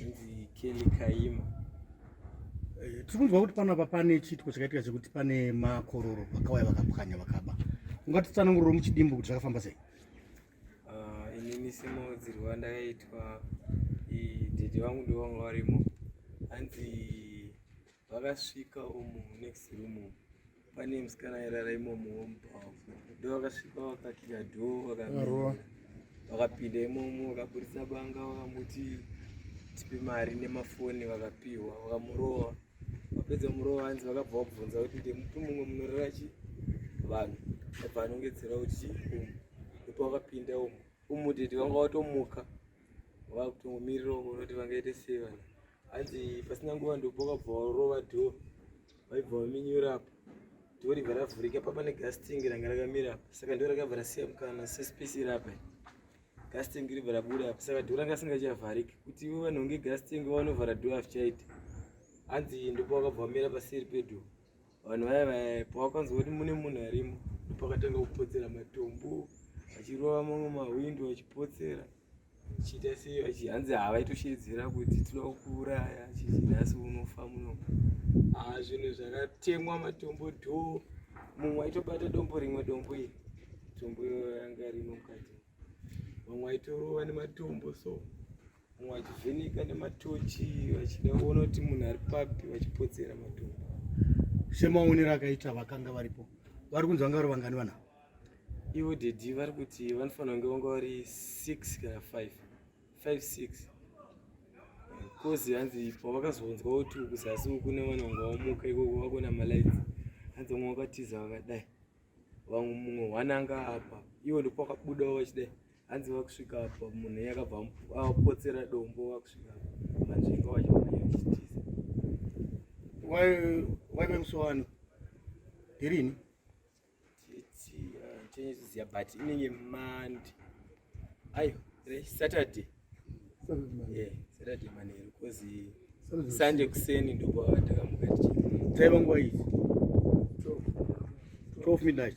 Hanzi Kelly Kaima. Eh, tiri kunzwa kuti panapa pane chiitiko chakaitika chekuti pane makororo vakauya vakapwanya vakaba. Ungatitsananguriro muchidimbu kuti zvakafamba sei? Ah, inini simudzirwa ndakaitwa dede vangu ndivo vanga varimo. Hanzi vakasvika umu next room pane musikana airara imomo womubhavu ndo vakasvika vakakira dhoo vakapinda imomo vakaburitsa banga vakamuti tipe mari nemafoni vakapiwa vakamurova vapedza murova hanzi vakabva vakubvunza kuti ndemupi mumwe munorara chi vanhu abva anongedzera kuti umu ndipo vakapinda umu umudhedhi vanga vatomuka vakutongomirira uko noti vangaite sei vanhu hanzi pasina nguva ndopokabva warova dho vaibva vaminyura apa dho ribva ravhurika papa negasting ranga rakamira apa saka ndo rakabva rasiya mukana sespesi rapa gasting ribva rabuda apa saka dho ranga asingachavhariki kuti ivo vanhu nge gasting vanovhara dho azvichaita hanzi ndipo vakabva vamira paseri pedho vanhu vaya vaya pawakanzwa kuti mune munhu arimo ndopakatanga kupotsera matombo achirova mamwe mahwindo achipotsera chiita sei vachi hanzi havaitosheedzera kuti tinokuuraya chichi nhasi unofa muno haa zvinhu zvakatemwa matombo dho mumwe aitobata dombo rimwe dombo iri tombo yanga rino mukati vamwe aitorova nematombo so mumwe achivheneka nematochi vachida kuona kuti munhu ari papi vachipotsera matombo semaonero akaita vakanga varipo vari kunzi vanga vari vangani vanavo ivo dedi vari kuti vanofanira kunge vanga vari six kana five five six kozi hanzi pavakazonzwa kuti kuzasi uku kune vana vanga vamuka ikoko vakona malights hanzi vamwe vakatiza vakadai vamwe mumwe hwana anga apa ivo ndipo vakabudawo vachidai hanzi vakusvika apa munhu iye akabva apotsera dombo vakusvika manzvinga vachivachitiza waive musowano ndirini tichiziva uh, but inenge mandi ayo saturday eh, saturday manheru bcause sunday kuseni ndokwava takamuka tichi taiva nguva izi 12 midnight